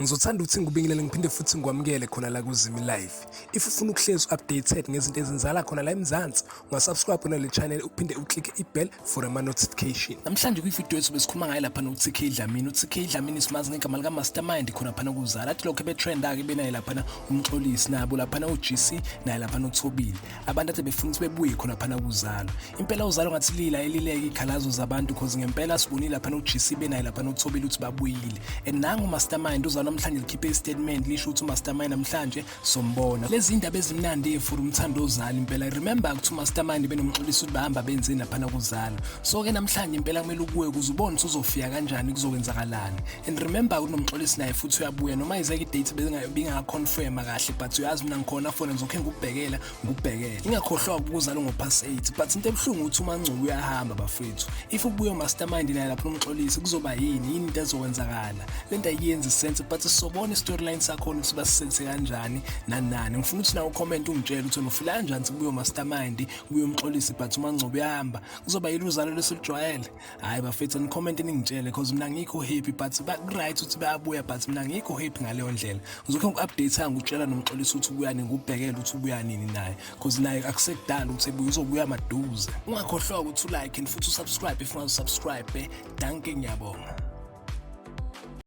Ngizothanda ukuthi ngikubingelele ngiphinde futhi ngikwamukele khona la kuZimi Live. If ufuna ukuhlezi updated ngezinto ezenzala khona la eMzansi, ungasubscribe kona le channel uphinde uclick i-bell for ama notification. Namhlanje kwi-video yethu besikhuluma ngaye lapha noTK Dlamini. UTK Dlamini simazi ngegama lika Mastermind khona phana kuzala. Athi lokho ebetrenda ke benaye lapha umxolisi nabo lapha uGC naye lapha uThobile. abantu athe befuna ukuthi bebuye khona phana kuzalo impela uzalo ngathi lila elileke ikhalazo zabantu cause ngempela sibonile lapha noGC benaye lapha noThobile ukuthi babuyile and nangu mastermind uzalo namhlanje likhiphe istatement lisho ukuthi umastermind namhlanje sombona lezi indaba ezimnandi efuru umthando ozali impela remember ukuthi umastermind benomxolisi ukuthi bahamba benzeni lapha kuzalo so ke namhlanje impela kumele ukuwe kuze ubone ukuthi uzofika kanjani kuzowenzakalani and remember kunomxolisi naye futhi uyabuya noma izeke idate bengakaconfirma kahle but uyazi mina ngikhona fona ngizokhe ngikubhekela ngikubhekele ingakhohlwa ukuzala ngo-pass 8 but into ebuhlungu ukuthi umangcubo uyahamba bafethu if ubuye umastermind naye lapho nomxolisi kuzoba yini yini into ezokwenzakala le nto ayiyenzi sense but sobona i-storyline sakhona ukuthi basisense kanjani nanani ngifuna ukuthi nawo ucomment ungitshele ukuthi nofila kanjani ukuthi kubuye umastermind kubuye umxolisi but umangcubo uyahamba kuzoba yini uzalo lwesijwayele hayi bafethu nicommente ningitshele cause mina ngikho happy but right ukuthi bayabuya but mina ngikho happy ngaleyo ndlela ngizokhe ngiku-update-a ngikutshela nomxolisa ukuthi ubuya nini ngikubhekele ukuthi ubuya nini naye cause naye akusekudala ukuthi ebuye uzobuya maduze ungakhohlwa ukuthi ulike and futhi usubscribe if ungazusubscribe danke ngiyabonga